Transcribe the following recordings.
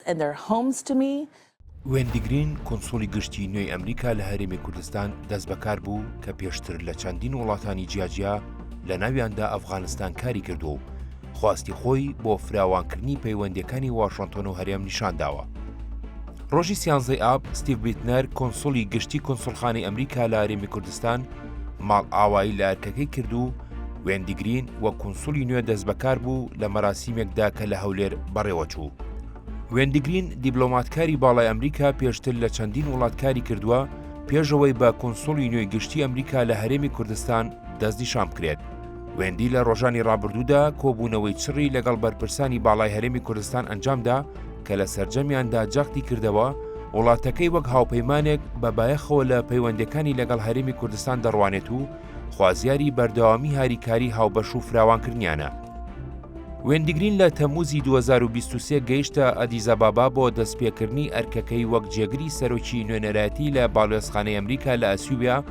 and their homes to me. وێندی گرین، کونسوڵی گشتیی نوێی ئەمریکا لە هەرێمی کوردستان دەستبەکار بوو کە پێشتر لە چەندین وڵاتانی جیاجیا لە ناویاندا ئەفغانستان کاری کردووە و خواستی خۆی بۆ فراوانکردنی پەیوەندییەکانی واشنتۆن و هەرێم نیشان داوە. ڕۆژی سیانزەی ئاب، ستیڤ بیتنەر، کونسوڵی گشتی کونسوڵخانەی ئەمریکا لە هەرێمی کوردستان ماڵئاوایی لە ئەرکەکەی کرد و وێندی گرین وەک کونسولی نوێ دەستبەکار بوو لە مەراسیمێکدا کە لە هەولێر بەڕێوە چوو. وێندی گرین دیبلۆماتکاری باڵای ئەمریکا پێشتر لە چەندین وڵات کاری کردووە پێشەوەی بە کونسولی نوێی گشتی ئەمریکا لە هەرێمی کوردستان دەستنیشان بکرێت. وێندی لە ڕۆژانی ڕابردوودا کۆبوونەوەی چڕی لەگەڵ بەرپرسانی باڵای هەرێمی کوردستان ئەنجامدا کە لە سەرجەمیاندا جەختی کردەوە وڵاتەکەی وەک هاوپەیمانێک بە بایەخەوە لە پەیوەندەکانی لەگەڵ هەرێمی کوردستان دەڕوانێت و خوازیاری بەردەوامی هاریکاری هاوبەش و فراوانکردنیانە. وێندیگرین لە تەمووزی 2023 گەیشتە ئەدیزابابا بۆ دەستپێکردنی ئەرکەکەی وەک جێگری سەرۆکی نوێنەرایەتی لە باڵوێزخانەی ئەمریکا لە ئەسیوبیا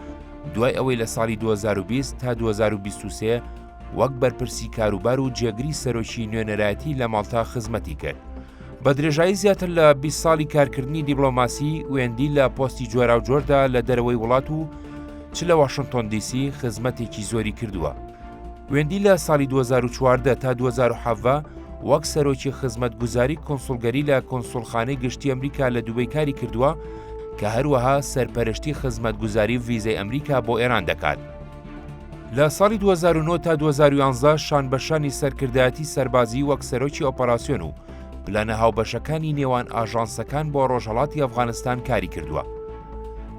دوای ئەوەی لە ساڵی 2020 تا 2023 وەک بەرپرسی کاروبار و جێگری سەرۆکی نوێنەرایەتی لە ماڵتا خزمەتی کرد. بە درێژایی زیاتر لە 20 ساڵی کارکردنی دیبلۆماسی وێندی لە پۆستی جۆراوجۆردا لە دەرەوەی وڵات و چ لە واشنتۆن دیسی خزمەتێکی زۆری کردووە. وێندی لە ساڵی 2014 تا 2017 وەک سەرۆکی خزمەت گوزاری کۆنسولگەری لە کۆنسولخانەی گشتی ئەمریکا لە دوبەی کاری کردووە کە هەروەها سەرپەرشتی خزمەت گوزاری ویزەی ئەمریکا بۆ ئێران دەکات. لە ساڵی دوو هەزار و نۆ تا دوو هەزار و یانزە شانبەشانی سەرکردایەتی سەربازیی وەک سەرۆکی ئۆپەراسیۆن و پلانە هاوبەشەکانی نێوان ئاژانسەکان بۆ ڕۆژهەڵاتی ئەفغانستان کاری کردووە.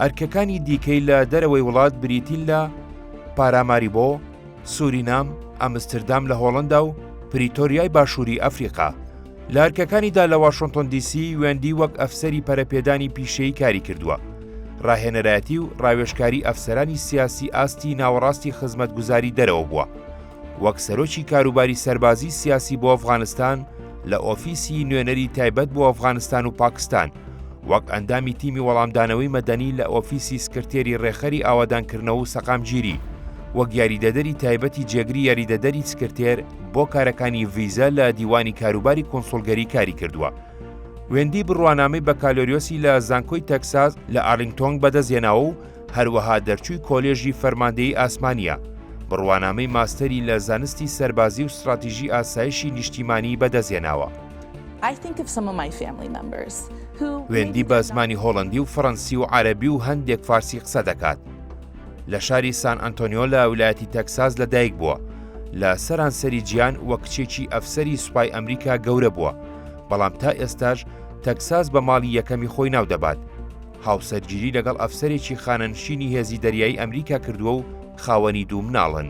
ئەرکەکانی دیکەی لە دەرەوەی وڵات بریتین لە پاراماریبۆ، سورینام، ئەمستردام لە هۆڵەندا و پریتۆریای باشووری ئەفریقا. لە ئەرکەکانیدا لە واشنتۆن دیسی وێندی وەک ئەفسەری پەرەپێدانی پیشەیی کاری کردووە ڕاهێنەرایەتی و ڕاوێشکاری ئەفسەرانی سیاسی ئاستی ناوەڕاستی خزمەتگوزاری دەرەوە بووە وەک سەرۆکی کاروباری سەربازی سیاسی بۆ ئەفغانستان لە ئۆفیسی نوێنەری تایبەت بۆ ئەفغانستان و پاکستان وەک ئەندامی تیمی وەڵامدانەوەی مەدەنی لە ئۆفیسی سکرتێری ڕێخەری ئاوادانکردنەوە و سەقامگیری وەک یاریدەدەری تایبەتی جێگری یاریدەدەری سکرتێر بۆ کارەکانی ڤیزە لە دیوانی کاروباری کۆنسۆلگەری کاری کردووە. وێندی بڕوانامەی بەکالۆریۆسی لە زانکۆی تەکساس لە ئارلینگتۆنگ بەدەستێناوە و هەروەها دەرچووی کۆلێژی فەرماندەیی ئاسمانیە. بڕوانامەی ماستەری لە زانستی سەربازی و ستراتیژی ئاسایشی نیشتیمانی بەدەستێناوە. وێندی بە زمانی هۆڵەندی و فەرەنسی و عەرەبی و هەندێک فارسی قسە دەکات. لە شاری سان ئەنتۆنیۆ لە ویلایەتی تەکساس لە دایک بووە لە سەرانسەری جیان وە کچێکی ئەفسەری سوپای ئەمریکا گەورە بووە بەڵام تا ئێستاش تەکساس بە ماڵی یەکەمی خۆی ناو دەبات هاوسەرگیری لەگەڵ ئەفسەرێکی خانەنشینی هێزی دەریایی ئەمریکا کردووە و خاوەنی دوو مناڵن.